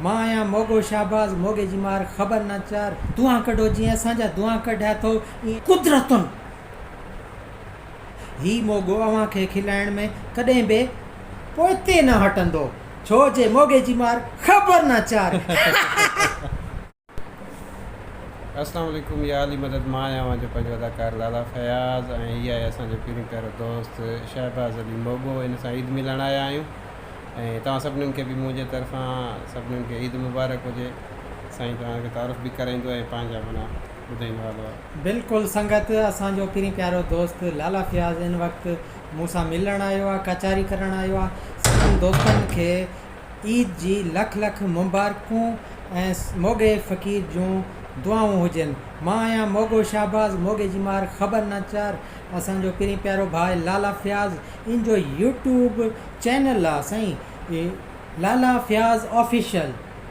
مان آهيان موڳو شهباز موڳي جي مار خبر نه چار دونهان ڪڍو جيئن اسان جا دونهان ڪڍيا ٿو ايئن قدرتن هي موڳو اوهان کي کلائڻ ۾ ڪڏهن به پوئتي نه هٽندو ڇو جي موڳي جي مار خبر نه چار. اسلام عليڪم يا علي مدد مان آهيان اوهان جو پنهنجو اداڪار لالا فياض ۽ هي آهي اسان جو پهريون پيارو دوست شهباز علي موڳو هن سان عيد ملڻ آيا آهيون ۽ توهان سڀنن کي به منهنجي طرفان سڀنن کي عيد مبارڪ هجي سائين توهان کي تعارف به ڪرائيندو ۽ پنهنجا منا ٻڌائيندو هلو بلڪل سنگت اسان جو پھرين پيارو دوست لالا فياض ان وقت مون سان ملڻ آيو آ ڪچھري ڪرڻ آيو آ سڀن دوستن کي عيد جي لک لک مبارڪون ۽ موڳي فقير جون دعائون هجن. مان آهيان موڳو شهباز موڳي جي مار خبر ناچار اسان جو پرين پيارو ڀاء لالا فياض ان جو يوٽيوب چينل آ سائين لالا فياض آفيشل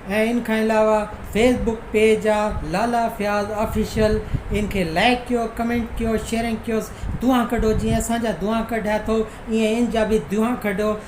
۽ ان کان علاوه فيس بڪ پيج آ لالا فياض آفيشل ان کي لائڪ ڪيو ڪمينٽ ڪيو شيئرنگ ڪيوس دعا ڪڍو جيئن اسان جا دعا ڪڍيا ٿو ايئن ان جا به دعا ڪڍو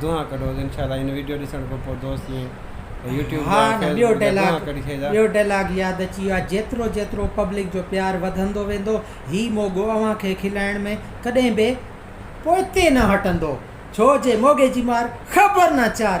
دونھا ڪڍو ان شاء الله ان ويڊيو ڏسڻ کان پوء دوست ائين يوٽيوب ها جا نه ٻيو فيسبوڪ جا دونھا ڊيلاگ ڪڍي ڇڏيندا ٻيو ڊيلاگ ياد اچي ويو آ جيترو جيترو پبلڪ جو پيار وڌندو ويندو ھي موڳو اوھان کي کلائڻ ۾ ڪڏھن به پوئتي نه ھٽندو ڇو جي موڳي جي مار خبر نه چار.